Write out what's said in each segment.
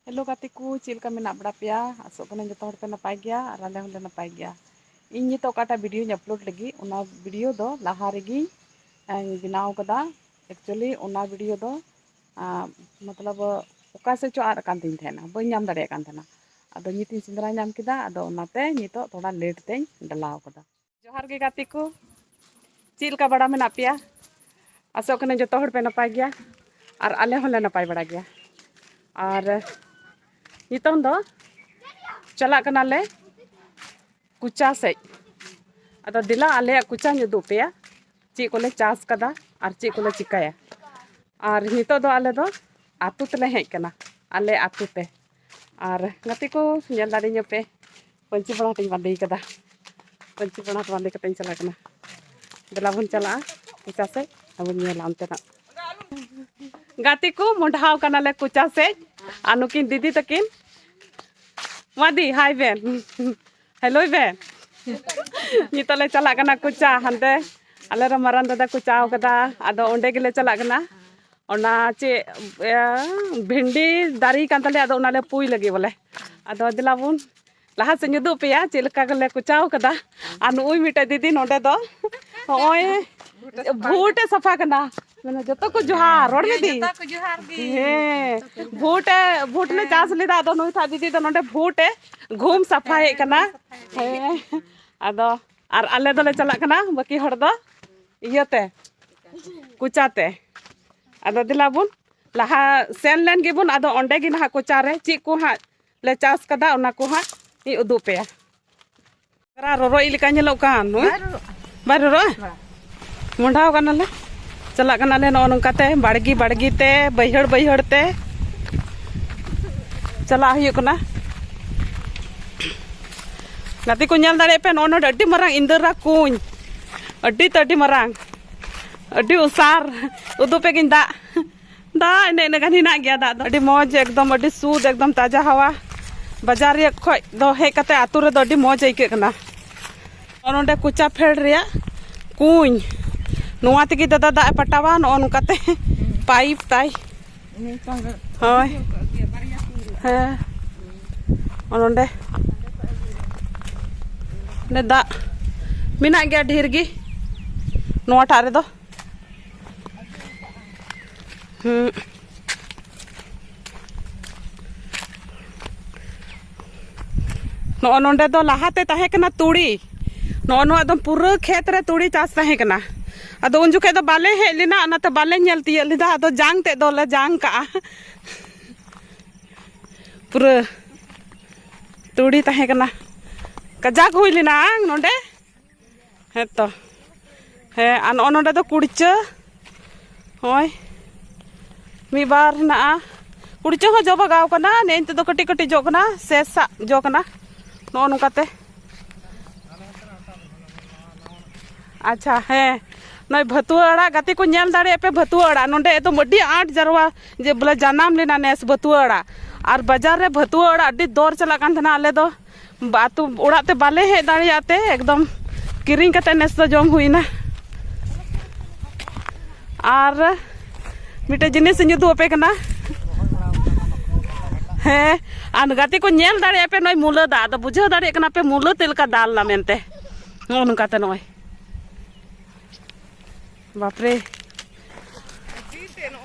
Hello ᱜᱟᱛᱮ ᱠᱚ ᱪᱮᱫ ᱞᱮᱠᱟ ᱢᱮᱱᱟᱜ ᱵᱟᱲᱟ ᱯᱮᱭᱟ ᱟᱥᱚᱜ ᱠᱟᱹᱱᱟᱹᱧ ᱡᱚᱛᱚ ᱦᱚᱲᱯᱮ ᱱᱟᱯᱟᱭ ᱜᱮᱭᱟ ᱟᱨ ᱟᱞᱮ ᱦᱚᱸᱞᱮ ᱱᱟᱯᱟᱭ ᱜᱮᱭᱟ ᱤᱧ ᱱᱤᱛᱚᱜ ᱚᱠᱟᱴᱟᱜ ᱵᱷᱤᱰᱭᱳᱧ ᱟᱯᱞᱳᱰ ᱞᱟᱹᱜᱤᱫ ᱚᱱᱟ ᱵᱷᱤᱰᱭᱳ ᱫᱚ ᱞᱟᱦᱟ ᱨᱮᱜᱮ ᱟᱨ ᱵᱮᱱᱟᱣ ᱠᱟᱫᱟ ᱮᱠᱪᱩᱭᱮᱞᱤ ᱚᱱᱟ ᱵᱷᱤᱰᱭᱳ ᱫᱚ ᱟᱨ ᱢᱚᱛᱞᱚᱵ ᱚᱠᱟ ᱥᱮᱫ ᱪᱚ ᱟᱫ ᱠᱟᱱ ᱛᱤᱧ ᱛᱟᱦᱮᱱᱟ ᱵᱟᱹᱧ ᱧᱟᱢ ᱫᱟᱲᱮᱭᱟᱜ ᱠᱟᱱ ᱛᱟᱦᱮᱱᱟ ᱟᱫᱚ ᱱᱤᱛ ᱤᱧ ᱥᱮᱸᱫᱽᱨᱟ ᱧᱟᱢ ᱠᱮᱫᱟ ᱟᱫᱚ ᱚᱱᱟᱛᱮ ᱱᱤᱛᱚᱜ ᱛᱷᱚᱲᱟ ᱞᱮᱴ ᱛᱮᱧ ᱰᱮᱞᱟᱣ ᱠᱟᱫᱟ ᱡᱚᱦᱟᱨ ᱜᱮ ᱜᱟᱛᱮ ᱠᱚ ᱪᱮᱫ ᱞᱮᱠᱟ ᱵᱟᱲᱟ ᱢᱮᱱᱟᱜ ᱯᱮᱭᱟ ᱟᱥᱚᱜ ᱠᱟᱹᱱᱟᱹᱧ ᱡᱚᱛᱚ ᱦᱚᱲ ᱯᱮ ᱱᱟᱯᱟᱭ ᱜᱮᱭᱟ ᱟᱨ ᱟᱞᱮ ᱦᱚᱸᱞᱮ ᱱᱟᱯᱟᱭ ᱵᱟᱲᱟ ᱜᱮᱭᱟ ᱟᱨ ᱱᱤᱛᱚᱝ ᱫᱚ ᱪᱟᱞᱟᱜ ᱠᱟᱱᱟᱞᱮ ᱠᱩᱪᱟ ᱥᱮᱡ ᱟᱫᱚ ᱫᱮᱞᱟ ᱟᱞᱮᱭᱟᱜ ᱠᱩᱪᱟᱧ ᱩᱫᱩᱜ ᱯᱮᱭᱟ ᱪᱮᱫ ᱠᱚᱞᱮ ᱪᱟᱥ ᱠᱟᱫᱟ ᱟᱨ ᱪᱮᱫ ᱠᱚᱞᱮ ᱪᱤᱠᱟᱹᱭᱟ ᱟᱨ ᱱᱤᱛᱚᱜ ᱫᱚ ᱟᱞᱮ ᱫᱚ ᱟᱛᱳ ᱛᱮᱞᱮ ᱦᱮᱡ ᱠᱟᱱᱟ ᱟᱞᱮ ᱟᱛᱳ ᱛᱮ ᱟᱨ ᱜᱟᱛᱮ ᱠᱚ ᱧᱮᱞ ᱫᱟᱲᱮᱧᱟᱯᱮ ᱯᱟᱹᱧᱪᱤ ᱯᱟᱲᱦᱟᱴ ᱤᱧ ᱵᱟᱸᱫᱮ ᱠᱟᱫᱟ ᱯᱟᱹᱧᱪᱤ ᱯᱟᱲᱦᱟᱴ ᱵᱟᱸᱫᱮ ᱠᱟᱛᱮ ᱤᱧ ᱪᱟᱞᱟᱜ ᱠᱟᱱᱟ ᱫᱮᱞᱟ ᱵᱚᱱ ᱪᱟᱞᱟᱜᱼᱟ ᱠᱚᱪᱟ ᱥᱮᱫ ᱟᱵᱚᱱ ᱧᱮᱞᱟ ᱚᱱᱛᱮᱱᱟᱜ ᱜᱟᱛᱮ ᱠᱚ ᱢᱚᱰᱷᱟᱣ ᱠᱟᱱᱟᱞᱮ ᱠᱚᱪᱟ ᱥᱮᱫ ᱟᱨ ᱱᱩᱠᱤᱱ ᱫᱤᱫᱤ ᱛᱟᱹᱠᱤᱱ ᱢᱟᱫᱤ ᱦᱟᱭ ᱵᱮᱱ ᱦᱮᱞᱳᱭ ᱵᱮᱱ ᱱᱤᱛᱚᱜ ᱞᱮ ᱪᱟᱞᱟᱜ ᱠᱟᱱᱟ ᱠᱚᱪᱟ ᱦᱟᱱᱛᱮ ᱟᱞᱮ ᱨᱮᱱ ᱢᱟᱨᱟᱝ ᱫᱟᱫᱟ ᱠᱚᱪᱟᱣ ᱠᱟᱫᱟ ᱟᱫᱚ ᱚᱸᱰᱮ ᱜᱮᱞᱮ ᱪᱟᱞᱟᱜ ᱠᱟᱱᱟ ᱚᱱᱟ ᱪᱮᱫ ᱵᱷᱮᱱᱰᱤ ᱫᱟᱨᱮ ᱠᱟᱱ ᱛᱟᱞᱮᱭᱟ ᱟᱫᱚ ᱚᱱᱟᱞᱮ ᱯᱩᱭ ᱞᱟᱹᱜᱤᱫ ᱵᱚᱞᱮ ᱟᱫᱚ ᱫᱮᱞᱟ ᱵᱚᱱ ᱞᱟᱦᱟ ᱥᱮᱫ ᱩᱫᱩᱜ ᱯᱮᱭᱟ ᱪᱮᱫ ᱞᱮᱠᱟ ᱜᱮᱞᱮ ᱠᱚᱪᱟᱣ ᱠᱟᱫᱟ ᱟᱨ ᱱᱩᱭ ᱢᱤᱫᱴᱮᱡ ᱫᱤᱫᱤ ᱱᱚᱰᱮ ᱫᱚ ᱱᱚᱜᱼᱚᱭ ᱵᱷᱩᱴ ᱮ ᱥᱟᱯᱷᱟ ᱠᱟᱱᱟ ᱢᱟᱱᱮ ᱡᱚᱛᱚ ᱠᱚ ᱡᱚᱦᱟᱨ ᱨᱚᱲ ᱢᱮ ᱫᱤ ᱦᱮᱸ ᱵᱷᱩᱴ ᱮ ᱵᱷᱩᱴ ᱞᱮ ᱪᱟᱥ ᱞᱮᱫᱟ ᱟᱫᱚ ᱱᱩᱭ ᱛᱷᱟ ᱫᱤᱫᱤ ᱫᱚ ᱱᱚᱰᱮ ᱵᱷᱩᱴ ᱮ ᱜᱷᱩᱢ ᱥᱟᱯᱷᱟᱭᱮᱫ ᱠᱟᱱᱟ ᱦᱮᱸ ᱟᱫᱚ ᱟᱨ ᱟᱞᱮ ᱫᱚᱞᱮ ᱪᱟᱞᱟᱜ ᱠᱟᱱᱟ ᱵᱟᱹᱠᱤ ᱦᱚᱲ ᱫᱚ ᱤᱭᱟᱹᱛᱮ ᱠᱚᱪᱟᱛᱮ ᱟᱫᱚ ᱫᱮᱞᱟ ᱵᱚᱱ ᱞᱟᱦᱟ ᱥᱮᱱ ᱞᱮᱱ ᱜᱮᱵᱚᱱ ᱟᱫᱚ ᱚᱸᱰᱮ ᱜᱮ ᱱᱟᱦᱟᱜ ᱠᱚᱪᱟᱨᱮ ᱪᱮᱫ ᱠᱚ ᱦᱟᱸᱜ ᱞᱮ ᱪᱟᱥ ᱠᱟᱫᱟ ᱚᱱᱟ ᱠᱚ ᱦᱟᱸᱜ ᱤᱧ ᱩᱫᱩᱜ ᱯᱮᱭᱟ ᱨᱚᱨᱚᱭᱤᱡ ᱞᱮᱠᱟ ᱧᱮᱞᱚᱜ ᱠᱟᱱ ᱵᱟᱭ ᱨᱚᱨᱚᱜᱼᱟ ᱢᱚᱸᱰᱷᱟᱣ ᱠᱟᱱᱟᱞᱮ ᱪᱟᱞᱟᱜ ᱠᱟᱱᱟᱞᱮ ᱱᱚᱜᱼᱚ ᱱᱚᱝᱠᱟᱛᱮ ᱵᱟᱲᱜᱮ ᱵᱟᱲᱜᱮ ᱛᱮ ᱵᱟᱹᱭᱦᱟᱹᱲ ᱵᱟᱹᱭᱦᱟᱹᱲ ᱛᱮ ᱪᱟᱞᱟᱜ ᱦᱩᱭᱩᱜ ᱠᱟᱱᱟ ᱜᱟᱛᱮ ᱠᱚ ᱧᱮᱞ ᱫᱟᱲᱮᱭᱟᱜ ᱯᱮ ᱱᱚᱜᱼᱚ ᱱᱚᱰᱮ ᱟᱹᱰᱤ ᱢᱟᱨᱟᱝ ᱤᱱᱫᱤᱨᱟ ᱠᱩᱧ ᱟᱹᱰᱤ ᱛᱮ ᱟᱹᱰᱤ ᱢᱟᱨᱟᱝ ᱟᱹᱰᱤ ᱩᱥᱟᱨ ᱩᱫᱩᱜ ᱯᱮᱜᱤᱧ ᱫᱟᱜ ᱫᱟᱜ ᱮᱱᱮᱡ ᱤᱱᱟᱹ ᱜᱟᱱ ᱦᱮᱱᱟᱜ ᱜᱮᱭᱟ ᱫᱟᱜ ᱫᱚ ᱟᱹᱰᱤ ᱢᱚᱡᱽ ᱮᱠᱫᱚᱢ ᱟᱹᱰᱤ ᱥᱩᱫ ᱮᱠᱫᱚᱢ ᱛᱟᱡᱟ ᱦᱟᱣᱟ ᱵᱟᱡᱟᱨ ᱨᱮᱭᱟᱜ ᱠᱷᱚᱡ ᱫᱚ ᱦᱮᱡ ᱠᱟᱛᱮ ᱟᱛᱳ ᱨᱮᱫᱚ ᱟᱹᱰᱤ ᱢᱚᱡᱽ ᱟᱹᱭᱠᱟᱹᱜ ᱠᱟᱱᱟ ᱱᱚᱰᱮ ᱠᱚᱪᱟ ᱯᱷᱮᱰ ᱨᱮᱭᱟᱜ ᱠᱩᱧ ᱱᱚᱣᱟ ᱛᱮᱜᱮ ᱫᱟᱫᱟ ᱫᱟᱜ ᱮ ᱯᱟᱴᱟᱣᱟ ᱱᱚᱜᱼᱚ ᱱᱚᱝᱠᱟᱛᱮ ᱯᱟᱭᱤᱯ ᱛᱟᱭ ᱦᱳᱭ ᱦᱮᱸ ᱱᱚᱰᱮ ᱱᱚᱰᱮ ᱫᱟᱜ ᱢᱮᱱᱟᱜ ᱜᱮᱭᱟ ᱰᱷᱮᱨ ᱜᱮ ᱱᱚᱣᱟᱴᱟᱜ ᱨᱮᱫᱚ Hmm. ᱱᱚᱜᱼᱚ ᱱᱚᱰᱮ ᱫᱚ ᱞᱟᱦᱟᱛᱮ ᱛᱟᱦᱮᱸ ᱠᱟᱱᱟ ᱛᱩᱲᱤ ᱱᱚᱜᱼᱚ ᱱᱚᱣᱟ ᱫᱚ ᱯᱩᱨᱟᱹ ᱠᱷᱮᱛ ᱨᱮ ᱛᱩᱲᱤ ᱪᱟᱥ ᱛᱟᱦᱮᱸ ᱠᱟᱱᱟ ᱟᱫᱚ ᱩᱱ ᱡᱚᱠᱷᱮᱡ ᱫᱚ ᱵᱟᱞᱮ ᱦᱮᱡ ᱞᱮᱱᱟ ᱚᱱᱟᱛᱮ ᱵᱟᱞᱮ ᱧᱮᱞ ᱛᱤᱭᱟᱹᱜ ᱞᱮᱫᱟ ᱟᱫᱚ ᱡᱟᱝ ᱛᱮᱫ ᱫᱚᱞᱮ ᱡᱟᱝ ᱠᱟᱜᱼᱟ ᱯᱩᱨᱟᱹ ᱛᱩᱲᱤ ᱛᱟᱦᱮᱸ ᱠᱟᱱᱟ ᱠᱟᱡᱟᱠ ᱦᱩᱭ ᱞᱮᱱᱟ ᱱᱚᱰᱮ ᱦᱮᱸ ᱛᱚ ᱦᱮᱸ ᱟᱨ ᱱᱚᱜᱼᱚ ᱱᱚᱰᱮ ᱫᱚ ᱠᱩᱲᱪᱟᱹ ᱦᱳᱭ ᱢᱤᱫ ᱵᱟᱨ ᱦᱮᱱᱟᱜᱼᱟ ᱠᱩᱲᱪᱟᱹ ᱦᱚᱸ ᱡᱚ ᱵᱟᱜᱟᱣ ᱠᱟᱱᱟ ᱱᱮ ᱱᱤᱛᱚᱜ ᱫᱚ ᱠᱟᱹᱴᱤᱡ ᱠᱟᱹᱴᱤᱡ ᱡᱚᱜ ᱠᱟᱱᱟ ᱥᱮ ᱥᱟᱜ ᱡᱚ ᱠᱟᱱᱟ ᱱᱚᱜᱼᱚ ᱱᱚᱝᱠᱟᱛᱮ ᱟᱪᱪᱷᱟ ᱦᱮᱸ ᱱᱚᱜᱼᱚᱭ ᱵᱷᱟᱹᱛᱩᱣᱟᱹ ᱟᱲᱟᱜ ᱜᱟᱛᱮ ᱠᱚ ᱧᱮᱞ ᱫᱟᱲᱮᱭᱟᱜ ᱯᱮ ᱵᱷᱟᱹᱛᱩᱣᱟᱹ ᱟᱲᱟᱜ ᱱᱚᱰᱮ ᱮᱠᱫᱚᱢ ᱟᱹᱰᱤ ᱟᱸᱴ ᱡᱟᱨᱣᱟ ᱡᱮ ᱵᱚᱞᱮ ᱡᱟᱱᱟᱢ ᱞᱮᱱᱟ ᱱᱮᱥ ᱵᱷᱟᱹᱛᱩᱣᱟᱹ ᱟᱲᱟᱜ ᱟᱨ ᱵᱟᱡᱟᱨ ᱨᱮ ᱵᱷᱟᱹᱛᱩᱣᱟᱹ ᱟᱲᱟᱜ ᱟᱹᱰᱤ ᱫᱚᱨ ᱪᱟᱞᱟᱜ ᱠᱟᱱ ᱛᱟᱦᱮᱱᱟ ᱟᱞᱮ ᱫᱚ ᱟᱹᱛᱩ ᱚᱲᱟᱜ ᱛᱮ ᱵᱟᱞᱮ ᱦᱮᱡ ᱫᱟᱲᱮᱭᱟᱜ ᱛᱮ ᱮᱠᱫᱚᱢ ᱠᱤᱨᱤᱧ ᱠᱟᱛᱮ ᱱᱮᱥ ᱫᱚ ᱡᱚᱢ ᱦᱩᱭᱱᱟ ᱟᱨ ᱢᱤᱫᱴᱮᱡ ᱡᱤᱱᱤᱥ ᱤᱧ ᱩᱫᱩᱜ ᱟᱯᱮ ᱠᱟᱱᱟ ᱦᱮᱸ ᱟᱨ ᱜᱟᱛᱮ ᱠᱚ ᱧᱮᱞ ᱫᱟᱲᱮᱭᱟᱜ ᱯᱮ ᱱᱚᱜᱼᱚᱭ ᱢᱩᱞᱟᱹ ᱫᱟᱜ ᱟᱫᱚ ᱵᱩᱡᱷᱟᱹᱣ ᱫᱟᱲᱮᱭᱟᱜ ᱠᱟᱱᱟ ᱯᱮ ᱢᱩᱞᱟᱹ ᱪᱮᱫ ᱞᱮᱠᱟ ᱫᱟᱞ ᱮᱱᱟ ᱢᱮᱱᱛᱮ ᱱᱚᱜᱼᱚ ᱱᱚᱝᱠᱟᱛᱮ ᱱᱚᱜᱼᱚᱭ ᱵᱟᱯᱨᱮ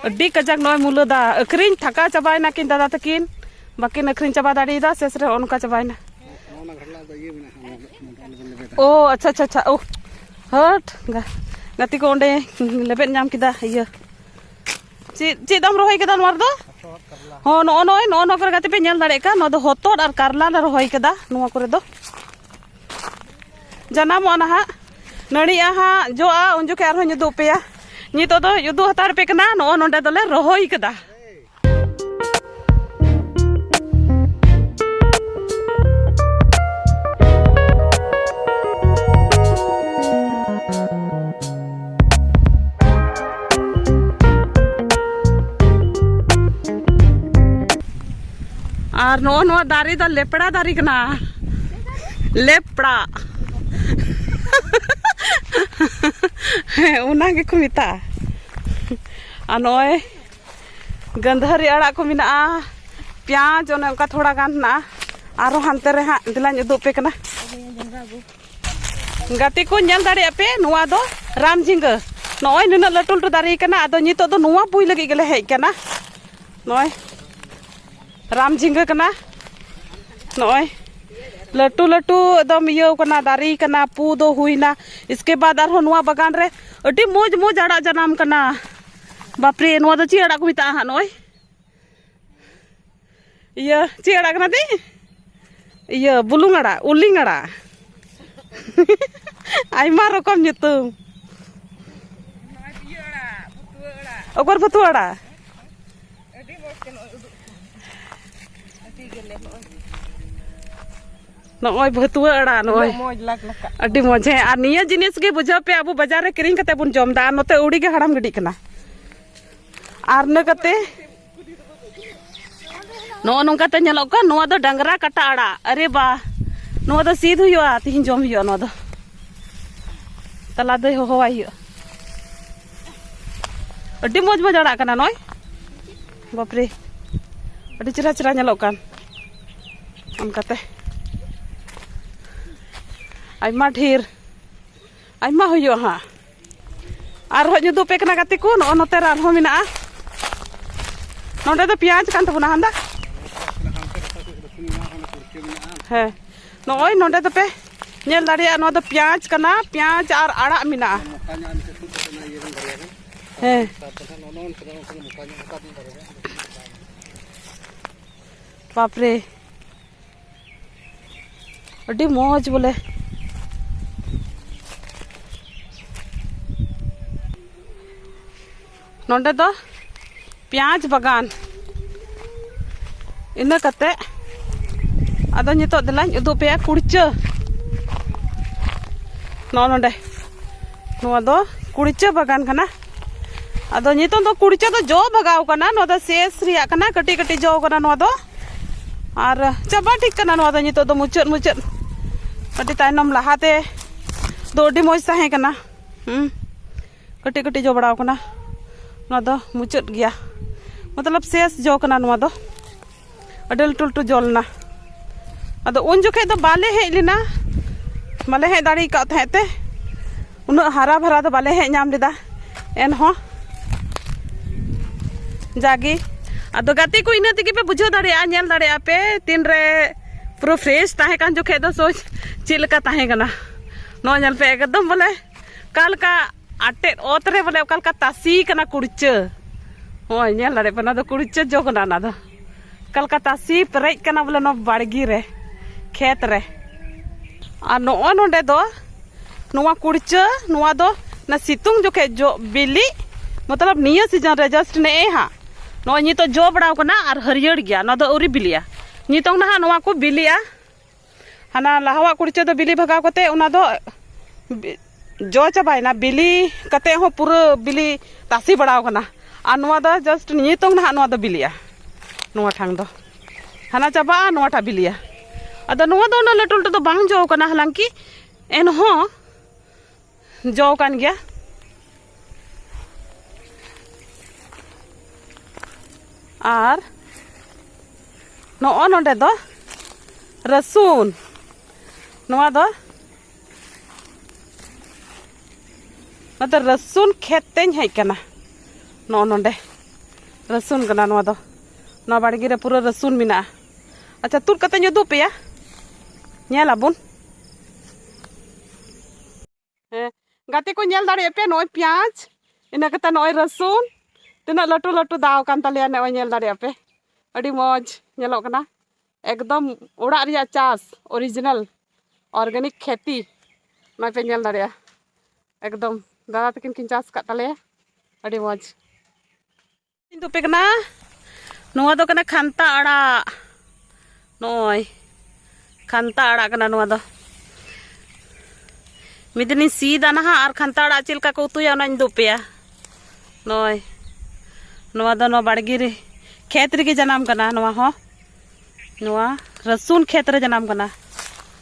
ᱟᱹᱰᱤ ᱠᱟᱡᱟᱠ ᱱᱚᱜᱼᱚᱭ ᱢᱩᱞᱟᱹ ᱫᱟ ᱟᱹᱠᱷᱨᱤᱧ ᱛᱷᱟᱠᱟ ᱪᱟᱵᱟᱭᱮᱱᱟ ᱠᱤᱱ ᱫᱟᱫᱟ ᱛᱟᱹᱠᱤᱱ ᱵᱟᱹᱠᱤᱱ ᱟᱹᱠᱷᱨᱤᱧ ᱪᱟᱵᱟ ᱫᱟᱲᱮᱭᱟᱫᱟ ᱥᱮᱥ ᱨᱮ ᱚᱱᱠᱟ ᱪᱟᱵᱟᱭᱮᱱᱟ ᱳ ᱟᱪᱪᱷᱟ ᱟᱪᱪᱷᱟ ᱟᱪᱪᱷᱟ ᱳ ᱦᱟᱴ ᱜᱟᱛᱮ ᱠᱚ ᱚᱸᱰᱮ ᱞᱮᱵᱮᱫ ᱧᱟᱢ ᱠᱮᱫᱟ ᱤᱭᱟᱹ ᱪᱮᱫ ᱪᱮᱫ ᱫᱟᱢ ᱨᱚᱦᱚᱭ ᱠᱮᱫᱟ ᱱᱚᱣᱟ ᱨᱮᱫᱚ ᱦᱚᱸ ᱱᱚᱜᱼᱚ ᱱᱚᱜᱼᱚᱭ ᱱᱚᱜᱼᱚ ᱱᱚᱣᱟ ᱠᱚᱨᱮ ᱜᱟᱛᱮ ᱯᱮ ᱧᱮᱞ ᱫᱟᱲᱮᱭᱟᱜ ᱠᱟᱱ ᱱᱚᱣᱟ ᱫᱚ ᱦᱚᱛᱚᱫ ᱟᱨ ᱠᱟᱨᱞᱟ ᱞᱮ ᱨᱚᱦᱚᱭ ᱠᱮᱫᱟ ᱱᱚᱣᱟ ᱠᱚᱨᱮ ᱫᱚ ᱡᱟᱱᱟᱢᱚᱜᱼᱟ ᱱᱟᱦᱟᱜ ᱱᱟᱹᱲᱤᱜᱼᱟ ᱦᱟᱸᱜ ᱡᱚᱜᱼᱟ ᱩᱱ ᱡᱚᱠᱷᱮᱡ ᱟᱨᱦᱚᱸᱧ ᱩᱫᱩᱜ ᱯᱮᱭᱟ ᱱᱤᱛᱚᱜ ᱫᱚ ᱩᱫᱩᱜ ᱦᱟᱛᱟᱲ ᱯᱮ ᱠᱟᱱᱟ ᱱᱚᱜᱼᱚ ᱱᱚᱰᱮ ᱫᱚᱞᱮ ᱨᱚᱦᱚᱭ ᱠᱟᱫᱟ ᱟᱨ ᱱᱚᱜᱼᱚ ᱱᱚᱣᱟ ᱫᱟᱨᱮ ᱫᱚ ᱞᱮᱯᱲᱟ ᱫᱟᱨᱮ ᱠᱟᱱᱟ ᱞᱮᱯᱲᱟ ᱦᱮᱸ ᱚᱱᱟ ᱜᱮᱠᱚ ᱢᱮᱛᱟᱜᱼᱟ ᱟᱨ ᱱᱚᱜᱼᱚᱭ ᱜᱟᱹᱫᱷᱟᱹᱨᱤ ᱟᱲᱟᱜ ᱠᱚ ᱢᱮᱱᱟᱜᱼᱟ ᱯᱮᱸᱭᱟᱡᱽ ᱚᱱᱮ ᱚᱱᱠᱟ ᱛᱷᱚᱲᱟ ᱜᱟᱱ ᱦᱮᱱᱟᱜᱼᱟ ᱟᱨᱚ ᱦᱟᱱᱛᱮ ᱨᱮ ᱦᱟᱸᱜ ᱫᱮᱞᱟᱧ ᱩᱫᱩᱜ ᱯᱮ ᱠᱟᱱᱟ ᱜᱟᱛᱮ ᱠᱚ ᱧᱮᱞ ᱫᱟᱲᱮᱭᱟᱜ ᱯᱮ ᱱᱚᱣᱟ ᱫᱚ ᱨᱟᱢ ᱡᱷᱤᱸᱜᱟᱹ ᱱᱚᱜᱼᱚᱭ ᱱᱩᱱᱟᱹᱜ ᱞᱟᱹᱴᱩ ᱞᱟᱹᱴᱩ ᱫᱟᱨᱮ ᱠᱟᱱᱟ ᱟᱫᱚ ᱱᱤᱛᱚᱜ ᱫᱚ ᱱᱚᱣᱟ ᱯᱩᱭ ᱞᱟᱹᱜᱤᱫ ᱜᱮᱞᱮ ᱦᱮᱡ ᱠᱟᱱᱟ ᱱᱚᱜᱼᱚᱭ ᱨᱟᱢ ᱡᱷᱤᱸᱜᱟᱹ ᱠᱟᱱᱟ ᱱᱚᱜᱼᱚᱭ ᱞᱟᱹᱴᱩ ᱞᱟᱹᱴᱩ ᱮᱠᱫᱚᱢ ᱤᱭᱟᱹ ᱠᱟᱱᱟ ᱫᱟᱨᱮ ᱠᱟᱱᱟ ᱯᱩ ᱫᱚ ᱦᱩᱭᱱᱟ ᱤᱥᱠᱮ ᱵᱟᱫ ᱟᱨᱦᱚᱸ ᱱᱚᱣᱟ ᱵᱟᱜᱟᱱ ᱨᱮ ᱟᱹᱰᱤ ᱢᱚᱡᱽ ᱢᱚᱡᱽ ᱟᱲᱟᱜ ᱡᱟᱱᱟᱢ ᱠᱟᱱᱟ ᱵᱟᱯᱨᱮ ᱱᱚᱣᱟ ᱫᱚ ᱪᱮᱫ ᱟᱲᱟᱜ ᱠᱚ ᱢᱮᱛᱟᱜᱼᱟ ᱦᱟᱸᱜ ᱱᱚᱜᱼᱚᱭ ᱤᱭᱟᱹ ᱪᱮᱫ ᱟᱲᱟᱜ ᱠᱟᱱᱟ ᱛᱤᱧ ᱤᱭᱟᱹ ᱵᱩᱞᱩᱝ ᱟᱲᱟᱜ ᱩᱞᱤᱝ ᱟᱲᱟᱜ ᱟᱭᱢᱟ ᱨᱚᱠᱚᱢ ᱧᱩᱛᱩᱢ ᱚᱜᱚᱨ ᱵᱷᱟᱹᱛᱩ ᱟᱲᱟᱜ ᱱᱚᱜᱼᱚᱭ ᱵᱷᱟᱹᱛᱩᱣᱟᱹ ᱟᱲᱟᱜ ᱱᱚᱜᱼᱚᱭ ᱟᱹᱰᱤ ᱢᱚᱡᱽ ᱦᱮᱸ ᱟᱨ ᱱᱤᱭᱟᱹ ᱡᱤᱱᱤᱥ ᱜᱮ ᱵᱩᱡᱷᱟᱹᱣ ᱯᱮ ᱟᱵᱚ ᱵᱟᱡᱟᱨ ᱨᱮ ᱠᱤᱨᱤᱧ ᱠᱟᱛᱮ ᱵᱚᱱ ᱡᱚᱢ ᱫᱟ ᱟᱨ ᱱᱚᱛᱮ ᱟᱹᱣᱲᱤ ᱜᱮ ᱦᱟᱲᱟᱢ ᱜᱤᱰᱤᱜ ᱠᱟᱱᱟ ᱟᱨ ᱤᱱᱟᱹ ᱠᱟᱛᱮ ᱱᱚᱜᱼᱚ ᱱᱚᱝᱠᱟᱛᱮ ᱧᱮᱞᱚᱜ ᱠᱟᱱ ᱱᱚᱣᱟ ᱫᱚ ᱰᱟᱝᱨᱟ ᱠᱟᱴᱟ ᱟᱲᱟᱜ ᱟᱨᱮ ᱵᱟ ᱱᱚᱣᱟ ᱫᱚ ᱥᱤᱫ ᱦᱩᱭᱩᱜᱼᱟ ᱛᱤᱦᱤᱧ ᱡᱚᱢ ᱦᱩᱭᱩᱜᱼᱟ ᱱᱚᱣᱟ ᱫᱚ ᱛᱟᱞᱟ ᱫᱚᱭ ᱦᱚᱦᱚᱣᱟᱭ ᱦᱩᱭᱩᱜᱼᱟ ᱟᱹᱰᱤ ᱢᱚᱡᱽ ᱢᱚᱡᱽ ᱟᱲᱟᱜ ᱠᱟᱱᱟ ᱱᱚᱜᱼᱚᱭ ᱵᱟᱯᱨᱮ ᱟᱹᱰᱤ ᱪᱮᱦᱨᱟ ᱪᱮᱦᱨᱟ ᱧᱮᱞᱚᱜ ᱠᱟᱱ ᱚᱱᱠᱟᱛᱮ ᱟᱭᱢᱟ ᱰᱷᱮᱨ ᱟᱭᱢᱟ ᱦᱩᱭᱩᱜᱼᱟ ᱦᱟᱸᱜ ᱟᱨᱦᱚᱸ ᱧᱩᱫᱩ ᱯᱮ ᱠᱟᱱᱟ ᱜᱟᱛᱮ ᱠᱚ ᱱᱚᱜᱼᱚ ᱱᱚᱛᱮ ᱨᱮ ᱟᱨᱦᱚᱸ ᱢᱮᱱᱟᱜᱼᱟ ᱱᱚᱰᱮ ᱫᱚ ᱯᱮᱸᱭᱟᱡᱽ ᱠᱟᱱ ᱛᱟᱵᱚᱱᱟ ᱦᱟᱸᱫᱟ ᱦᱮᱸ ᱱᱚᱜᱼᱚᱭ ᱱᱚᱰᱮ ᱫᱚᱯᱮ ᱧᱮᱞ ᱫᱟᱲᱮᱭᱟᱜᱼᱟ ᱱᱚᱣᱟ ᱫᱚ ᱯᱮᱸᱭᱟᱡᱽ ᱠᱟᱱᱟ ᱯᱮᱸᱭᱟᱡᱽ ᱟᱨ ᱟᱲᱟᱜ ᱢᱮᱱᱟᱜᱼᱟ ᱦᱮᱸ ᱵᱟᱯᱨᱮ ᱟᱹᱰᱤ ᱢᱚᱡᱽ ᱵᱚᱞᱮ ᱱᱚᱰᱮ ᱫᱚ ᱯᱮᱸᱭᱟᱡᱽ ᱵᱟᱜᱟᱱ ᱤᱱᱟᱹ ᱠᱟᱛᱮ ᱟᱫᱚ ᱱᱤᱛᱚᱜ ᱫᱮᱞᱟᱧ ᱩᱫᱩᱜ ᱯᱮᱭᱟ ᱠᱩᱲᱪᱟᱹ ᱱᱚᱜᱼᱚ ᱱᱚᱰᱮ ᱱᱚᱣᱟ ᱫᱚ ᱠᱩᱲᱪᱟᱹ ᱵᱟᱜᱟᱱ ᱠᱟᱱᱟ ᱟᱫᱚ ᱱᱤᱛᱚᱝ ᱫᱚ ᱠᱩᱲᱪᱟᱹ ᱫᱚ ᱡᱚ ᱵᱷᱟᱜᱟᱣ ᱠᱟᱱᱟ ᱱᱚᱣᱟ ᱫᱚ ᱥᱮᱥ ᱨᱮᱭᱟᱜ ᱠᱟᱱᱟ ᱠᱟᱹᱴᱤᱡ ᱠᱟᱹᱴᱤᱡ ᱡᱚ ᱠᱟᱱᱟ ᱱᱚᱣᱟ ᱫᱚ ᱟᱨ ᱪᱟᱵᱟ ᱴᱷᱤᱠ ᱠᱟᱱᱟ ᱱᱚᱣᱟ ᱫᱚ ᱱᱤᱛᱚᱜ ᱫᱚ ᱢᱩᱪᱟᱹᱫ ᱢᱩᱪᱟᱹᱫ ᱟᱹᱰᱤ ᱛᱟᱭᱱᱚᱢ ᱞᱟᱦᱟᱛᱮ ᱫᱚ ᱟᱹᱰᱤ ᱢᱚᱡᱽ ᱛᱟᱦᱮᱸ ᱠᱟᱱᱟ ᱦᱩᱸ ᱠᱟᱹᱴᱤᱡ ᱠᱟᱹᱴᱤᱡ ᱡᱚ ᱵᱟᱲᱟᱣ ᱠᱟᱱᱟ ᱱᱚᱣᱟ ᱫᱚ ᱢᱩᱪᱟᱹᱫ ᱜᱮᱭᱟ ᱢᱚᱛᱞᱚᱵ ᱥᱮᱥ ᱡᱚ ᱠᱟᱱᱟ ᱱᱚᱣᱟ ᱫᱚ ᱟᱹᱰᱤ ᱞᱟᱹᱴᱩ ᱞᱟᱹᱴᱩ ᱡᱚ ᱞᱮᱱᱟ ᱟᱫᱚ ᱩᱱ ᱡᱚᱠᱷᱮᱡ ᱫᱚ ᱵᱟᱞᱮ ᱦᱮᱡ ᱞᱮᱱᱟ ᱵᱟᱞᱮ ᱦᱮᱡ ᱫᱟᱲᱮ ᱠᱟᱣ ᱛᱟᱦᱮᱸᱫ ᱛᱮ ᱩᱱᱟᱹᱜ ᱦᱟᱨᱟ ᱵᱷᱟᱨᱟ ᱫᱚ ᱵᱟᱞᱮ ᱦᱮᱡ ᱧᱟᱢ ᱞᱮᱫᱟ ᱮᱱᱦᱚᱸ ᱡᱟᱜᱮ ᱟᱫᱚ ᱜᱟᱛᱮ ᱠᱚ ᱤᱱᱟᱹ ᱛᱮᱜᱮ ᱯᱮ ᱵᱩᱡᱷᱟᱹᱣ ᱫᱟᱲᱮᱭᱟᱜᱼᱟ ᱧᱮᱞ ᱫᱟᱲᱮᱭᱟᱜᱼᱟ ᱯᱮ ᱛᱤᱱ ᱨᱮ ᱯᱩᱨᱟᱹ ᱯᱷᱨᱮᱥ ᱛᱟᱦᱮᱸ ᱠᱟᱱ ᱡᱚᱠᱷᱮᱡ ᱫᱚ ᱥᱚᱪ ᱪᱮᱫ ᱞᱮᱠᱟ ᱛᱟᱦᱮᱸ ᱠᱟᱱᱟ ᱱᱚᱣᱟ ᱧᱮᱞ ᱯᱮ ᱮᱠᱫᱚᱢ ᱵᱚᱞᱮ ᱚᱠᱟ ᱞᱮᱠᱟ ᱟᱴᱮᱫ ᱚᱛ ᱨᱮ ᱵᱚᱞᱮ ᱚᱠᱟ ᱞᱮᱠᱟ ᱛᱟᱥᱮ ᱠᱟᱱᱟ ᱠᱩᱲᱪᱟᱹ ᱱᱚᱜᱼᱚᱭ ᱧᱮᱞ ᱫᱟᱲᱮᱭᱟᱜ ᱯᱮ ᱚᱱᱟ ᱫᱚ ᱠᱩᱲᱪᱟᱹ ᱡᱚ ᱠᱟᱱᱟ ᱚᱱᱟ ᱫᱚ ᱠᱟᱞᱠᱟᱛᱟ ᱥᱤ ᱯᱮᱨᱮᱡ ᱠᱟᱱᱟ ᱵᱚᱞᱮ ᱱᱚᱣᱟ ᱵᱟᱲᱜᱮ ᱨᱮ ᱠᱷᱮᱛ ᱨᱮ ᱟᱨ ᱱᱚᱜᱼᱚᱭ ᱱᱚᱰᱮ ᱫᱚ ᱱᱚᱣᱟ ᱠᱩᱲᱪᱟᱹ ᱱᱚᱣᱟ ᱫᱚ ᱚᱱᱟ ᱥᱤᱛᱩᱝ ᱡᱚᱠᱷᱮᱡ ᱡᱚ ᱵᱤᱞᱤ ᱢᱚᱛᱞᱚᱵ ᱱᱤᱭᱟᱹ ᱥᱤᱡᱚᱱ ᱨᱮ ᱡᱟᱥᱴ ᱱᱮᱜᱼᱮ ᱦᱟᱸᱜ ᱱᱚᱜᱼᱚᱭ ᱱᱤᱛᱚᱜ ᱡᱚ ᱵᱟᱲᱟᱣ ᱠᱟᱱᱟ ᱟᱨ ᱦᱟᱹᱨᱭᱟᱹᱲ ᱜᱮᱭᱟ ᱱᱚᱣᱟ ᱫᱚ ᱟᱹᱣᱨᱤ ᱵᱤᱞᱤᱜᱼᱟ ᱱᱤᱛᱚᱝ ᱱᱟᱦᱟᱜ ᱱᱚᱣᱟ ᱠᱚ ᱵᱤᱞᱤᱜᱼᱟ ᱦᱟᱱᱟ ᱞᱟᱦᱟᱣᱟᱜ ᱠᱩᱲᱪᱟᱹ ᱫᱚ ᱵᱤᱞᱤ ᱵᱷᱟᱜᱟᱣ ᱠᱟᱛᱮ ᱚᱱᱟ ᱫᱚ ᱡᱚ ᱪᱟᱵᱟᱭᱮᱱᱟ ᱵᱤᱞᱤ ᱠᱟᱛᱮ ᱦᱚᱸ ᱯᱩᱨᱟᱹ ᱵᱤᱞᱤ ᱛᱟᱥᱮ ᱵᱟᱲᱟᱣ ᱠᱟᱱᱟ ᱟᱨ ᱱᱚᱣᱟ ᱫᱚ ᱡᱟᱥᱴ ᱱᱤᱛᱚᱝ ᱱᱟᱦᱟᱜ ᱱᱚᱣᱟ ᱫᱚ ᱵᱤᱞᱤᱜᱼᱟ ᱱᱚᱣᱟ ᱴᱷᱟᱝ ᱫᱚ ᱦᱟᱱᱟ ᱪᱟᱵᱟᱜᱼᱟ ᱱᱚᱣᱟᱴᱟᱜ ᱵᱤᱞᱤᱜᱼᱟ ᱟᱫᱚ ᱱᱚᱣᱟ ᱫᱚ ᱩᱱᱟᱹᱜ ᱞᱟᱹᱴᱩ ᱞᱟᱹᱴᱩ ᱫᱚ ᱵᱟᱝ ᱡᱚ ᱠᱟᱱᱟ ᱦᱟᱞᱟᱝᱠᱤ ᱮᱱᱦᱚᱸ ᱡᱚ ᱠᱟᱱ ᱜᱮᱭᱟ ᱟᱨ ᱱᱚᱜᱼᱚ ᱱᱚᱰᱮ ᱫᱚ ᱨᱟᱹᱥᱩᱱ ᱱᱚᱣᱟ ᱫᱚ ᱱᱚᱛᱮ ᱨᱟᱹᱥᱩᱱ ᱠᱷᱮᱛ ᱛᱮᱧ ᱦᱮᱡ ᱠᱟᱱᱟ ᱱᱚᱜᱼᱚ ᱱᱚᱰᱮ ᱨᱟᱹᱥᱩᱱ ᱠᱟᱱᱟ ᱱᱚᱣᱟ ᱫᱚ ᱱᱚᱣᱟ ᱵᱟᱲᱜᱮ ᱨᱮ ᱯᱩᱨᱟᱹ ᱨᱟᱹᱥᱩᱱ ᱢᱮᱱᱟᱜᱼᱟ ᱟᱪᱪᱷᱟ ᱛᱩᱫ ᱠᱟᱛᱮᱧ ᱩᱫᱩᱜ ᱯᱮᱭᱟ ᱧᱮᱞ ᱟᱵᱚᱱ ᱦᱮᱸ ᱜᱟᱛᱮ ᱠᱚ ᱧᱮᱞ ᱫᱟᱲᱮᱭᱟᱜ ᱯᱮ ᱱᱚᱜᱼᱚᱭ ᱯᱮᱸᱭᱟᱡᱽ ᱤᱱᱟᱹ ᱠᱟᱛᱮ ᱱᱚᱜᱼᱚᱭ ᱨᱟᱹᱥᱩᱱ ᱛᱤᱱᱟᱹᱜ ᱞᱟᱹᱴᱩ ᱞᱟᱹᱴᱩ ᱫᱟᱣ ᱠᱟᱱ ᱛᱟᱞᱮᱭᱟ ᱱᱚᱜᱼᱚᱭ ᱧᱮᱞ ᱫᱟᱲᱮᱭᱟᱜ ᱯᱮ ᱟᱹᱰᱤ ᱢᱚᱡᱽ ᱧᱮᱞᱚᱜ ᱠᱟᱱᱟ ᱮᱠᱫᱚᱢ ᱚᱲᱟᱜ ᱨᱮᱭᱟᱜ ᱪᱟᱥ ᱚᱨᱤᱡᱤᱱᱟᱞ ᱚᱨᱜᱟᱱᱤᱠ ᱠᱷᱮᱛᱤ ᱱᱚᱜᱼᱚᱭ ᱯᱮ ᱧᱮᱞ ᱫᱟᱲᱮᱭᱟᱜᱼᱟ ᱮᱠᱫᱚᱢ ᱫᱟᱫᱟ ᱛᱟᱹᱠᱤᱱ ᱠᱤᱱ ᱪᱟᱥ ᱟᱠᱟᱫ ᱛᱟᱞᱮᱭᱟ ᱟᱹᱰᱤ ᱢᱚᱡᱽ ᱤᱧ ᱫᱩᱯᱮ ᱠᱟᱱᱟ ᱱᱚᱣᱟ ᱫᱚ ᱠᱟᱱᱟ ᱠᱷᱟᱱᱛᱟ ᱟᱲᱟᱜ ᱱᱚᱜᱼᱚᱭ ᱠᱷᱟᱱᱛᱟ ᱟᱲᱟᱜ ᱠᱟᱱᱟ ᱱᱚᱣᱟ ᱫᱚ ᱢᱤᱫ ᱫᱤᱱᱤᱧ ᱥᱤᱫᱟ ᱱᱟᱦᱟᱜ ᱟᱨ ᱠᱷᱟᱱᱛᱟ ᱟᱲᱟᱜ ᱪᱮᱫ ᱞᱮᱠᱟ ᱠᱚ ᱩᱛᱩᱭᱟ ᱚᱱᱟᱧ ᱩᱫᱩᱜ ᱯᱮᱭᱟ ᱱᱚᱜᱼᱚᱭ ᱱᱚᱣᱟ ᱫᱚ ᱱᱚᱣᱟ ᱵᱟᱲᱜᱮ ᱨᱮ ᱠᱷᱮᱛ ᱨᱮᱜᱮ ᱡᱟᱱᱟᱢ ᱠᱟᱱᱟ ᱱᱚᱣᱟ ᱦᱚᱸ ᱱᱚᱣᱟ ᱨᱟᱹᱥᱩᱱ ᱠᱷᱮᱛ ᱨᱮ ᱡᱟᱱᱟᱢ ᱠᱟᱱᱟ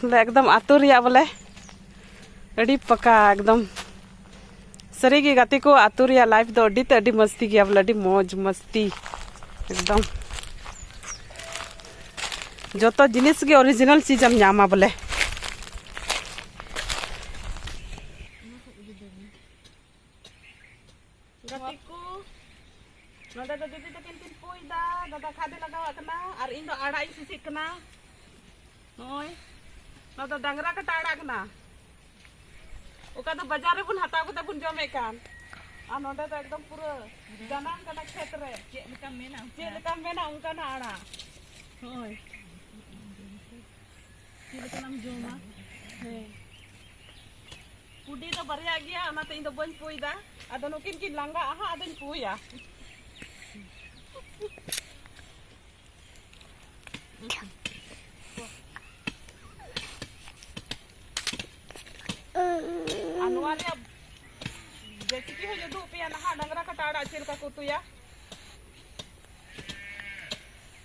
ᱵᱚᱞᱮ ᱮᱠᱫᱚᱢ ᱟᱛᱳ ᱨᱮᱭᱟᱜ ᱵᱚᱞᱮ ᱟᱹᱰᱤ ᱯᱟᱠᱟ ᱮᱠᱫᱚᱢ ᱥᱟᱹᱨᱤᱜᱮ ᱜᱟᱛᱮ ᱠᱚ ᱟᱛᱳ ᱨᱮᱭᱟᱜ ᱞᱟᱭᱤᱯᱷ ᱫᱚ ᱟᱹᱰᱤ ᱛᱮ ᱟᱹᱰᱤ ᱢᱚᱥᱛᱤ ᱜᱮᱭᱟ ᱵᱚᱞᱮ ᱟᱹᱰᱤ ᱢᱚᱡᱽ ᱢᱚᱥᱛᱤ ᱮᱠᱫᱚᱢ ᱡᱚᱛᱚ ᱡᱤᱱᱤᱥ ᱜᱮ ᱚᱨᱤᱡᱤᱱᱟᱞ ᱪᱤᱡᱽ ᱮᱢ ᱧᱟᱢᱟ ᱵᱚᱞᱮ ᱜᱟᱛᱮ ᱠᱚ ᱱᱚᱰᱮ ᱫᱚ ᱫᱤᱫᱤ ᱛᱟᱹᱠᱤᱱ ᱠᱤᱱ ᱯᱩᱭ ᱫᱟ ᱫᱟᱫᱟ ᱠᱷᱟᱫᱮ ᱞᱟᱜᱟᱣᱟᱜ ᱠᱟᱱᱟ ᱟᱨ ᱤᱧ ᱫᱚ ᱟᱲᱟᱜ ᱤᱧ ᱥᱤᱥᱤᱜ ᱠᱟᱱᱟ ᱱᱚᱜᱼᱚᱭ ᱱᱚᱣᱟ ᱫᱚ ᱰᱟᱝᱨᱟ ᱠᱟᱴᱟ ᱟᱲᱟᱜ ᱠᱟᱱᱟ ᱚᱠᱟ ᱫᱚ ᱵᱟᱡᱟᱨ ᱨᱮᱵᱚᱱ ᱦᱟᱛᱟᱣ ᱠᱟᱛᱮ ᱵᱚᱱ ᱡᱚᱢᱮᱫ ᱠᱟᱱ ᱟᱨ ᱱᱚᱰᱮ ᱫᱚ ᱮᱠᱫᱚᱢ ᱯᱩᱨᱟᱹ ᱡᱟᱱᱟᱢ ᱠᱟᱱᱟ ᱠᱷᱮᱛ ᱨᱮ ᱪᱮᱫ ᱞᱮᱠᱟᱢ ᱢᱮᱱᱟ ᱪᱮᱫ ᱞᱮᱠᱟᱢ ᱢᱮᱱᱟ ᱚᱱᱠᱟᱱᱟᱜ ᱟᱲᱟᱜ ᱱᱚᱜᱼᱚᱭ ᱪᱮᱫ ᱞᱮᱠᱟ ᱞᱟᱝ ᱡᱚᱢᱟ ᱦᱮᱸ ᱠᱩᱰᱤ ᱫᱚ ᱵᱟᱨᱭᱟ ᱜᱮᱭᱟ ᱚᱱᱟᱛᱮ ᱤᱧ ᱫᱚ ᱵᱟᱹᱧ ᱯᱩᱭᱫᱟ ᱟᱫᱚ ᱱᱩᱠᱤᱱ ᱠᱤᱱ ᱞᱟᱸᱜᱟᱜᱼᱟ ᱦᱟᱸᱜ ᱟᱫᱚᱧ ᱯᱩᱭᱟ ᱟᱨ ᱱᱚᱣᱟ ᱨᱮᱭᱟᱜ ᱨᱮᱥᱤᱯᱤ ᱦᱚᱸᱧ ᱩᱫᱩᱜ ᱯᱮᱭᱟ ᱱᱟᱦᱟᱜ ᱰᱟᱝᱨᱟ ᱠᱟᱴᱟ ᱟᱲᱟᱜ ᱪᱮᱫ ᱞᱮᱠᱟ ᱠᱚ ᱩᱛᱩᱭᱟ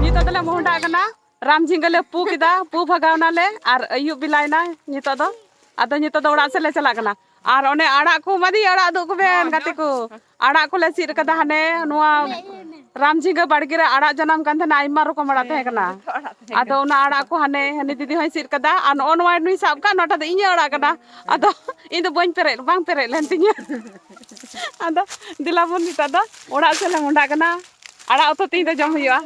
ᱱᱤᱛᱚᱜ ᱫᱚᱞᱮ ᱢᱚᱦᱰᱟᱜ ᱠᱟᱱᱟ ᱨᱟᱢ ᱡᱷᱤᱸᱜᱟᱹ ᱞᱮ ᱯᱩ ᱠᱮᱫᱟ ᱯᱩ ᱵᱷᱟᱜᱟᱣᱱᱟ ᱞᱮ ᱟᱨ ᱟᱹᱭᱩᱵ ᱵᱮᱞᱟᱭᱱᱟ ᱱᱤᱛᱚᱜ ᱫᱚ ᱟᱫᱚ ᱱᱤᱛᱚᱜ ᱫᱚ ᱚᱲᱟᱜ ᱥᱮᱫ ᱞᱮ ᱪᱟᱞᱟᱜ ᱠᱟᱱᱟ ᱟᱨ ᱚᱱᱮ ᱟᱲᱟᱜ ᱠᱚ ᱢᱟᱫᱤ ᱟᱲᱟᱜ ᱩᱫᱩᱜ ᱠᱚᱵᱮᱱ ᱜᱟᱛᱮ ᱠᱚ ᱟᱲᱟᱜ ᱠᱚᱞᱮ ᱥᱤᱫ ᱠᱟᱫᱟ ᱦᱟᱱᱮ ᱱᱚᱣᱟ ᱨᱟᱢ ᱡᱷᱤᱸᱜᱟᱹ ᱵᱟᱲᱜᱮ ᱨᱮ ᱟᱲᱟᱜ ᱡᱟᱱᱟᱢ ᱠᱟᱱ ᱛᱟᱦᱮᱱᱟ ᱟᱭᱢᱟ ᱨᱚᱠᱚᱢ ᱟᱲᱟᱜ ᱛᱟᱦᱮᱸ ᱠᱟᱱᱟ ᱟᱫᱚ ᱚᱱᱟ ᱟᱲᱟᱜ ᱠᱚ ᱦᱟᱱᱮ ᱦᱟᱹᱱᱤ ᱫᱤᱫᱤ ᱦᱚᱸᱭ ᱥᱤᱫ ᱠᱟᱫᱟ ᱟᱨ ᱱᱚᱜᱼᱚ ᱱᱚᱣᱟ ᱱᱩᱭ ᱥᱟᱵ ᱠᱟᱜ ᱱᱚᱣᱟᱴᱟᱜ ᱫᱚ ᱤᱧᱟᱹᱜ ᱟᱲᱟᱜ ᱠᱟᱱᱟ ᱟᱫᱚ ᱤᱧ ᱫᱚ ᱵᱟᱹᱧ ᱯᱮᱨᱮᱡ ᱵᱟᱝ ᱯᱮᱨᱮᱡ ᱞᱮᱱ ᱛᱤᱧᱟᱹ ᱟᱫᱚ ᱫᱮᱞᱟ ᱵᱚᱱ ᱱᱤᱛᱚᱜ ᱫᱚ ᱚᱲᱟᱜ ᱥᱮᱫ ᱞᱮ ᱢᱚᱸᱰᱟᱜ ᱠᱟᱱᱟ ᱟᱲᱟᱜ ᱩᱛᱩ ᱛᱮᱦᱮᱧ ᱫᱚ ᱡᱚᱢ ᱦᱩᱭᱩᱜᱼᱟ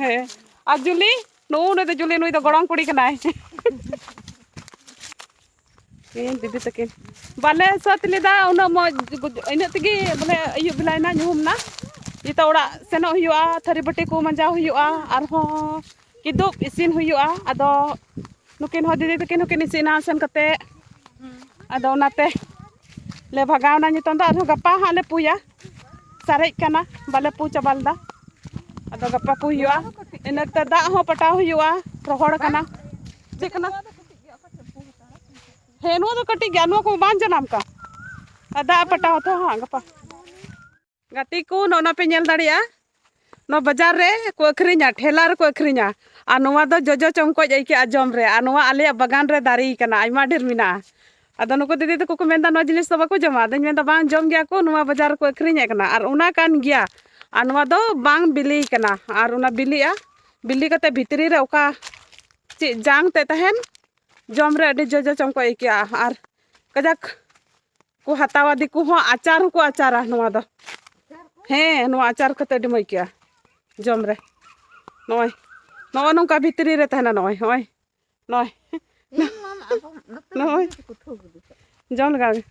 ᱦᱮᱸ ᱟᱨ ᱡᱩᱞᱤ ᱱᱩᱜᱩ ᱱᱩᱭ ᱫᱚ ᱡᱩᱞᱤ ᱱᱩᱭ ᱫᱚ ᱜᱚᱲᱚᱢ ᱠᱩᱲᱤ ᱠᱟᱱᱟᱭ ᱤᱧ ᱫᱤᱫᱤ ᱛᱟᱹᱠᱤᱱ ᱵᱟᱞᱮ ᱥᱟᱹᱛ ᱞᱮᱫᱟ ᱩᱱᱟᱹᱜ ᱢᱚᱡᱽ ᱤᱱᱟᱹᱜ ᱛᱮᱜᱮ ᱵᱚᱞᱮ ᱟᱹᱭᱩᱵ ᱵᱮᱞᱟᱭᱮᱱᱟ ᱧᱩᱦᱩᱢ ᱮᱱᱟ ᱱᱤᱛᱚᱜ ᱚᱲᱟᱜ ᱥᱮᱱᱚᱜ ᱦᱩᱭᱩᱜᱼᱟ ᱛᱷᱟᱹᱨᱤ ᱵᱟᱹᱴᱤ ᱠᱚ ᱢᱟᱸᱡᱟᱣ ᱦᱩᱭᱩᱜᱼᱟ ᱟᱨᱦᱚᱸ ᱠᱤᱫᱩᱵ ᱤᱥᱤᱱ ᱦᱩᱭᱩᱜᱼᱟ ᱟᱫᱚ ᱱᱩᱠᱤᱱ ᱦᱚᱸ ᱫᱤᱫᱤ ᱛᱟᱹᱠᱤᱱ ᱦᱚᱸᱠᱤᱱ ᱤᱥᱤᱱᱟ ᱥᱮᱱ ᱠᱟᱛᱮ ᱟᱫᱚ ᱚᱱᱟᱛᱮ ᱞᱮ ᱵᱷᱟᱜᱟᱣᱱᱟ ᱱᱤᱛᱚᱝ ᱫᱚ ᱟᱨᱦᱚᱸ ᱜᱟᱯᱟ ᱦᱟᱸᱜ ᱞᱮ ᱯᱩᱭᱟ ᱥᱟᱨᱮᱡ ᱠᱟᱱᱟ ᱵᱟᱞᱮ ᱯᱩ ᱪᱟᱵᱟ ᱞᱮᱫᱟ ᱟᱫᱚ ᱜᱟᱯᱟ ᱯᱩ ᱦᱩᱭᱩᱜᱼᱟ ᱤᱱᱟᱹᱛᱮ ᱫᱟᱜ ᱦᱚᱸ ᱯᱟᱴᱟᱣ ᱦᱩᱭᱩᱜᱼᱟ ᱨᱚᱦᱚᱲ ᱠᱟᱱᱟ ᱪᱮᱫ ᱠᱟᱱᱟ ᱦᱮᱸ ᱱᱚᱣᱟ ᱫᱚ ᱠᱟᱹᱴᱤᱡ ᱜᱮᱭᱟ ᱱᱚᱣᱟ ᱠᱚ ᱵᱟᱝ ᱡᱟᱱᱟᱢ ᱠᱟᱱ ᱫᱟᱜ ᱯᱟᱴᱟᱣ ᱛᱚ ᱦᱟᱸᱜ ᱜᱟᱯᱟ ᱜᱟᱛᱮ ᱠᱚ ᱱᱚᱜᱼᱚ ᱱᱟ ᱯᱮ ᱧᱮᱞ ᱫᱟᱲᱮᱭᱟᱜᱼᱟ ᱱᱚᱣᱟ ᱵᱟᱡᱟᱨ ᱨᱮ ᱠᱚ ᱟᱹᱠᱷᱨᱤᱧᱟ ᱴᱷᱮᱞᱟ ᱨᱮᱠᱚ ᱟᱹᱠᱷᱨᱤᱧᱟ ᱟᱨ ᱱᱚᱣᱟ ᱫᱚ ᱡᱚᱡᱚ ᱪᱚᱢᱠᱚᱡ ᱟᱹᱭᱠᱟᱹᱜᱼᱟ ᱡᱚᱢ ᱨᱮ ᱟᱨ ᱱᱚᱣᱟ ᱟᱞᱮᱭᱟᱜ ᱵᱟᱜᱟᱱ ᱨᱮ ᱫᱟᱨᱮ ᱠᱟᱱᱟ ᱟᱭᱢᱟ ᱰᱷᱮᱨ ᱢᱮᱱᱟᱜᱼᱟ ᱟᱫᱚ ᱱᱩᱠᱩ ᱫᱤᱫᱤ ᱛᱟᱠᱚ ᱠᱚ ᱢᱮᱱᱫᱟ ᱱᱚᱣᱟ ᱡᱤᱱᱤᱥ ᱫᱚ ᱵᱟᱠᱚ ᱡᱚᱢᱟ ᱟᱫᱚᱧ ᱢᱮᱱᱫᱟ ᱵᱟᱝ ᱡᱚᱢ ᱜᱮᱭᱟ ᱠᱚ ᱱᱚᱣᱟ ᱵᱟᱡᱟᱨ ᱨᱮᱠᱚ ᱟᱹᱠᱷᱨᱤᱧᱮᱫ ᱠᱟᱱᱟ ᱟᱨ ᱚᱱᱟ ᱠᱟᱱ ᱜᱮᱭᱟ ᱟᱨ ᱱᱚᱣᱟ ᱫᱚ ᱵᱟᱝ ᱵᱤᱞᱤ ᱠᱟᱱᱟ ᱟᱨ ᱚᱱᱟ ᱵᱤᱞᱤᱜᱼᱟ ᱵᱤᱞᱤ ᱠᱟᱛᱮ ᱵᱷᱤᱛᱨᱤ ᱨᱮ ᱚᱠᱟ ᱪᱮᱫ ᱡᱟᱝ ᱛᱮᱫ ᱛᱟᱦᱮᱱ ᱡᱚᱢ ᱨᱮ ᱟᱹᱰᱤ ᱡᱚᱡᱚ ᱪᱚᱢᱠᱚᱡ ᱟᱹᱭᱠᱟᱹᱜᱼᱟ ᱟᱨ ᱠᱟᱡᱟᱠ ᱠᱚ ᱦᱟᱛᱟᱣᱟ ᱫᱤᱠᱩ ᱦᱚᱸ ᱟᱪᱟᱨ ᱦᱚᱸᱠᱚ ᱟᱪᱟᱨᱟ ᱱᱚᱣᱟ ᱫᱚ ᱦᱮᱸ ᱱᱚᱣᱟ ᱟᱪᱟᱨ ᱠᱟᱛᱮ ᱟᱹᱰᱤ ᱢᱚᱡᱽ ᱟᱹᱭᱠᱟᱹᱜᱼᱟ ᱡᱚᱢ ᱨᱮ ᱱᱚᱜᱼᱚᱭ ᱱᱚᱜᱼᱚ ᱱᱚᱝᱠᱟ ᱵᱷᱤᱛᱨᱤ ᱨᱮ ᱛᱟᱦᱮᱱᱟ ᱱᱚᱜᱼᱚᱭ ᱱᱚᱜᱼᱚᱭ ᱱᱚᱜᱼᱚᱭ ᱱᱚᱜᱼᱚᱭ ᱡᱚᱢ ᱞᱮᱜᱟᱣ ᱜᱮ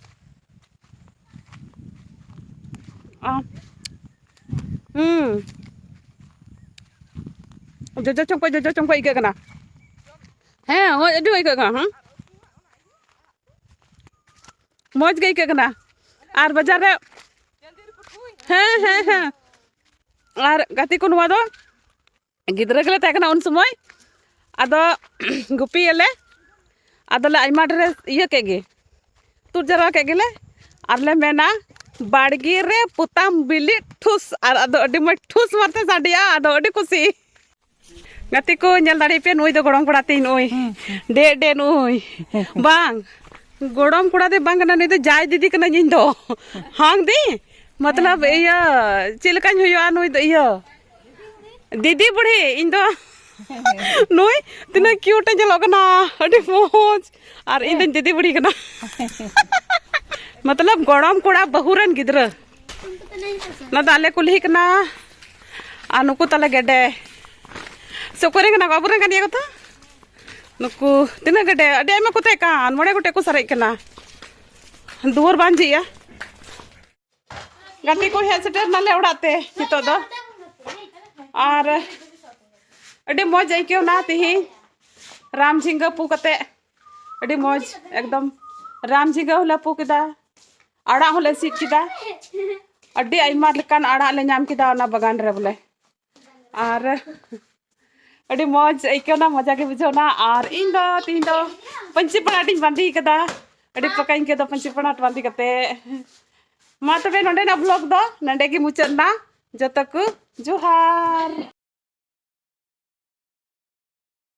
ᱦᱩᱸ ᱡᱚᱡᱚ ᱪᱚᱝᱠᱚᱡ ᱡᱚᱡᱚ ᱪᱚᱝᱠᱚᱡ ᱟᱹᱭᱠᱟᱹᱜ ᱠᱟᱱᱟ ᱦᱮᱸ ᱟᱹᱰᱤ ᱟᱹᱭᱠᱟᱹᱜ ᱠᱟᱱᱟ ᱦᱮᱸ ᱢᱚᱡᱽ ᱜᱮ ᱟᱹᱭᱠᱟᱹᱜ ᱠᱟᱱᱟ ᱟᱨ ᱵᱟᱡᱟᱨ ᱨᱮ ᱦᱮᱸ ᱦᱮᱸ ᱦᱮᱸ ᱟᱨ ᱜᱟᱛᱮ ᱠᱚ ᱱᱚᱣᱟ ᱫᱚ ᱜᱤᱫᱽᱨᱟᱹ ᱜᱮᱞᱮ ᱛᱟᱦᱮᱸ ᱠᱟᱱᱟ ᱩᱱ ᱥᱚᱢᱚᱭ ᱟᱫᱚ ᱜᱩᱯᱤᱭᱟᱞᱮ ᱟᱫᱚᱞᱮ ᱟᱭᱢᱟ ᱰᱷᱮᱨ ᱤᱭᱟᱹ ᱠᱮᱫ ᱜᱮ ᱛᱩᱫ ᱡᱟᱣᱨᱟ ᱠᱮᱫ ᱜᱮᱞᱮ ᱟᱨᱞᱮ ᱢᱮᱱᱟ ᱵᱟᱲᱜᱮ ᱨᱮ ᱯᱚᱛᱟᱢ ᱵᱤᱞᱤ ᱴᱷᱩᱥ ᱟᱨ ᱟᱫᱚ ᱟᱹᱰᱤ ᱢᱚᱡᱽ ᱴᱷᱩᱥ ᱢᱟᱨᱛᱮ ᱥᱟᱰᱮᱭᱟ ᱟᱫᱚ ᱟᱹᱰᱤ ᱠᱩᱥᱤ ᱜᱟᱛᱮ ᱠᱚ ᱧᱮᱞ ᱫᱟᱲᱮ ᱯᱮ ᱱᱩᱭ ᱫᱚ ᱜᱚᱲᱚᱢ ᱠᱚᱲᱟ ᱛᱤᱧ ᱱᱩᱭ ᱰᱮ ᱰᱮ ᱱᱩᱭ ᱵᱟᱝ ᱜᱚᱲᱚᱢ ᱠᱚᱲᱟ ᱫᱚ ᱵᱟᱝ ᱠᱟᱱᱟ ᱱᱩᱭ ᱫᱚ ᱡᱟᱭ ᱫᱤᱫᱤ ᱠᱟᱱᱟ ᱤᱧ ᱫᱚ ᱦᱟᱝ ᱫᱤ ᱢᱚᱛᱞᱚᱵ ᱤᱭᱟᱹ ᱪᱮᱫ ᱞᱮᱠᱟᱧ ᱦᱩᱭᱩᱜᱼᱟ ᱱᱩᱭ ᱫᱚ ᱤᱭᱟᱹ ᱫᱤᱫᱤ ᱵᱩᱲᱦᱤ ᱤᱧ ᱫᱚ ᱱᱩᱭ ᱛᱤᱱᱟᱹᱜ ᱠᱤᱭᱩᱴ ᱮ ᱧᱮᱞᱚᱜ ᱠᱟᱱᱟ ᱟᱹᱰᱤ ᱢᱚᱡᱽ ᱟᱨ ᱤᱧ ᱫᱚᱧ ᱫᱤᱫᱤ ᱵᱩᱲᱦᱤ ᱠᱟᱱᱟ ᱢᱚᱛᱞᱚᱵ ᱜᱚᱲᱚᱢ ᱠᱚᱲᱟ ᱵᱟᱹᱦᱩ ᱨᱮᱱ ᱜᱤᱫᱽᱨᱟᱹ ᱱᱚᱣᱟ ᱫᱚ ᱟᱞᱮ ᱠᱩᱞᱦᱤ ᱠᱟᱱᱟ ᱟᱨ ᱱᱩᱠᱩ ᱛᱟᱞᱮ ᱜᱮᱰᱮ ᱥᱮ ᱚᱠᱚᱭ ᱨᱮᱱ ᱠᱟᱱᱟ ᱠᱚ ᱟᱵᱚᱨᱮᱱ ᱠᱟᱱ ᱜᱮᱭᱟ ᱠᱚ ᱛᱚ ᱱᱩᱠᱩ ᱛᱤᱱᱟᱹᱜ ᱜᱮᱰᱮ ᱟᱹᱰᱤ ᱟᱭᱢᱟ ᱠᱚ ᱛᱟᱦᱮᱸ ᱠᱟᱱ ᱢᱚᱬᱮ ᱜᱚᱴᱮᱡ ᱠᱚ ᱥᱟᱨᱮᱡ ᱠᱟᱱᱟ ᱫᱩᱣᱟᱹᱨ ᱵᱟᱝ ᱡᱷᱤᱡᱼᱟ ᱜᱟᱛᱮ ᱠᱚ ᱦᱮᱡ ᱥᱮᱴᱮᱨ ᱱᱟᱞᱮ ᱚᱲᱟᱜ ᱛᱮ ᱱᱤᱛᱚᱜ ᱫᱚ ᱟᱨ ᱟᱹᱰᱤ ᱢᱚᱡᱽ ᱟᱹᱭᱠᱟᱹᱣᱱᱟ ᱛᱤᱦᱤᱧ ᱨᱟᱢ ᱡᱷᱤᱸᱜᱟᱹ ᱯᱩ ᱠᱟᱛᱮ ᱟᱹᱰᱤ ᱢᱚᱡᱽ ᱮᱠᱫᱚᱢ ᱨᱟᱢ ᱡᱷᱤᱸᱜᱟᱹ ᱦᱚᱸᱞᱮ ᱯᱩ ᱠᱮᱫᱟ ᱟᱲᱟᱜ ᱦᱚᱸᱞᱮ ᱥᱤᱫ ᱠᱮᱫᱟ ᱟᱹᱰᱤ ᱟᱭᱢᱟ ᱞᱮᱠᱟᱱ ᱟᱲᱟᱜ ᱞᱮ ᱧᱟᱢ ᱠᱮᱫᱟ ᱚᱱᱟ ᱵᱟᱜᱟᱱ ᱨᱮ ᱵᱚᱞᱮ ᱟᱨ ᱟᱹᱰᱤ ᱢᱚᱡᱽ ᱟᱹᱭᱠᱟᱹᱣᱱᱟ ᱢᱚᱡᱟ ᱜᱮ ᱵᱩᱡᱷᱟᱹᱣᱱᱟ ᱟᱨ ᱤᱧ ᱫᱚ ᱛᱤᱦᱤᱧ ᱫᱚ ᱯᱟᱹᱧᱪᱤ ᱯᱟᱲᱟᱴᱤᱧ ᱵᱟᱸᱫᱮ ᱠᱟᱫᱟ ᱟᱹᱰᱤ ᱯᱟᱠᱟᱧ ᱟᱹᱭᱠᱟᱹᱣᱫᱟ ᱯᱟᱹᱧᱪᱤ ᱯᱟᱲᱟᱴ ᱵᱟᱸᱫᱮ ᱠᱟᱛᱮ ᱢᱟ ᱛᱚᱵᱮ ᱱᱚᱰᱮᱱᱟᱜ ᱵᱞᱚᱜ ᱫᱚ ᱱᱚᱰᱮ ᱜᱮ ᱢᱩᱪᱟᱹᱫ ᱮᱱᱟ ᱡᱚᱛᱚ ᱠᱚ ᱡᱚᱦᱟᱨ